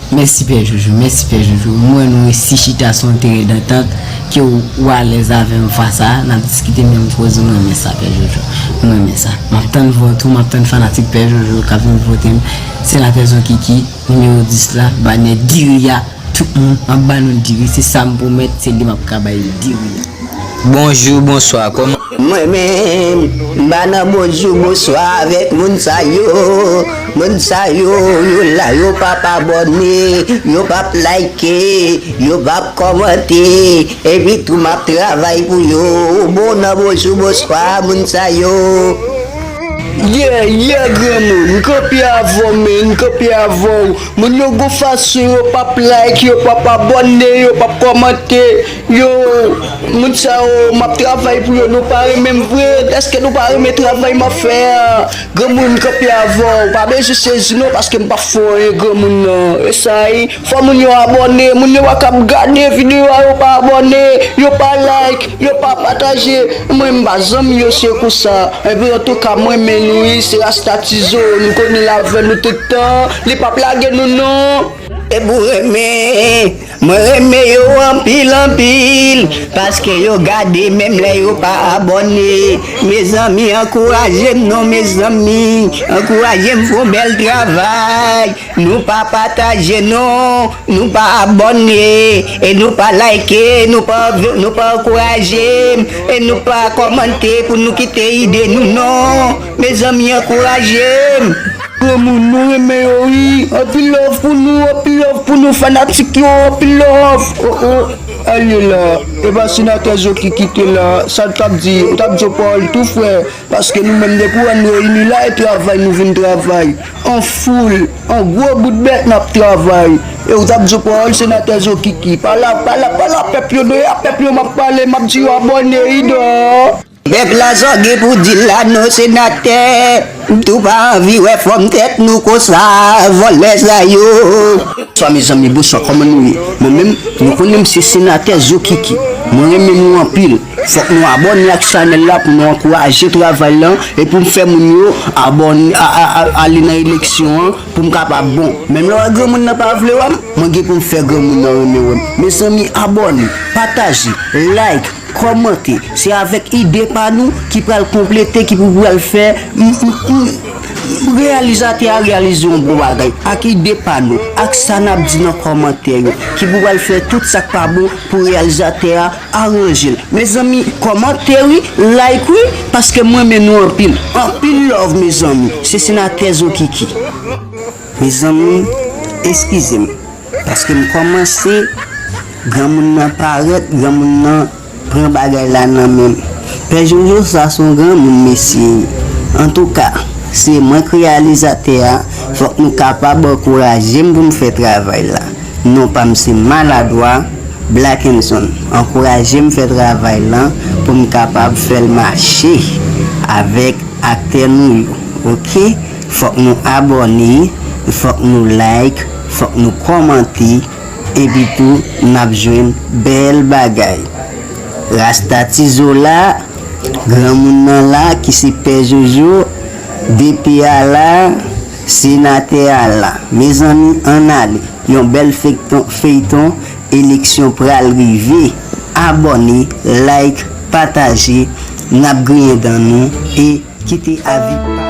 Mèsi pè joujou, mèsi pè joujou, m wè nou resi chita sou yon teren dantant ke ou alèz avè m fwa sa a, n ap diskite menm koze, m renmen sa pè joujou, m renmen sa, m ap tann vòt ou, m ap tann fanatik pè joujou k ap vin vote m. Se la fezon kiki numéro 10 la banè diri a tout moun ap ba nou diri se sam pwomèt se li map ka bay diri a. Bonjou bonswa kòman. Mwen menm m pa nan bonjou bonswa avèk moun sa yo moun sa yo yo la yo pap abòne yo pap like yo pap kòmante epi tou map travay pou yo ou bon nan bonjou bonswa moun sa yo. Yeah yeah granmoun m kanpe avèw men m kanpe avèw moun yo gon fason yo pap like yo pap abòne yo pap kòmante yo moun sa yo map travay pou yo nou pa renmenm vre eske nou pa renmen travay map fè a granmoun m kanpe avèw pa bezwen sezi non paske m pap fè w anyen granmoun nan esayi. Fò moun yo abòne, moun yo pa kab gade video a yo pa abòne, yo pa like, yo pa pataje, mwen m pa zanmi yo se kou sa, enben antouka m renmen nou wi se rasta tizo nou konnen l avè nou tout tan li pap lage nou non. Ebou renmen Mwen renmen yo anpil anpil paske yo gade menm lè yo pa abòne mezanmi ankourajem non mezanmi ankourajem fon bèl travay. Nou pa pataje non, nou pa abòne e nou pa like, nou pa nou pa ankouraje e nou pa kòmante pou nou kite ide nou non mezanmi ankourajem. Granmoun mwen renmen yo wi anpil love pou nou anpil love pou nou fanatik yo anpil love oh oh alyela epa senatè zo ki kite la sa nou tap di ou tap di yo pawòl tou frè. Paske nou menm depi w wè n reyini la e travay nou vin travay an foul an gwo bout bèt n ap travay e w t ap di yo pawòl senatè zokiki pa la pa la pa la pèp yo do e a pèp yo m ap pale m ap di yo abòne idò. Pèp la sa gen pou di l la non senatè m tou pa anvi wè fòm tèt nou konsa vòlè sa yo. Bnswa mezanmi bonswa kòman nou ye mwen menm nou konnen m se senatè zokiki mwen renmen nou anpil Fok nou abone ak chanel la pou nou ankouraje travay lan e poum fè moun yo abone ale nan eleksyon an poum kapab bon menm lè wè granmoun nan pa vle wèm mwen gen poum fè granmoun nan renmen wèm mezanmi abone pataje like kòmante se avèk ide pa nou ki pral konplete ki pou pral fè reyalizatè a reyalize yon bon bagay ak ide pa nou ak sa nap di nan kòmantè yo ki pou pral fè tout sak pa bon pou reyalizatè a Aranjel. Mezanmi komante wi like wi paske m renmen nou anpil. Anpil love mezanmi se senatè zokiki. Mezanmi eskizem paske m komanse granmoun nan paret granmoun nan pran bagay la nan menm pè jojo sa son granmoun mesye antouka se mwen k reyalizatè a fok nou kapab ankourajem poum fè travay la non pam se maladwa. Blackenson, ankouraje m fè travay lan pou m kapab fè l mache avèk aktè nou yo ok fòk nou abòne fòk nou like fòk nou kòmante epitou nap jwenn bèl bagay rasta tizola granmoun nan la ki se pè jojo dpi a la. Senatè a la mezanmi ann ale. Yon bèl fekton feyton eleksyon pral rive abòne like pataje nap griyen dan nou e kite avi pa nou.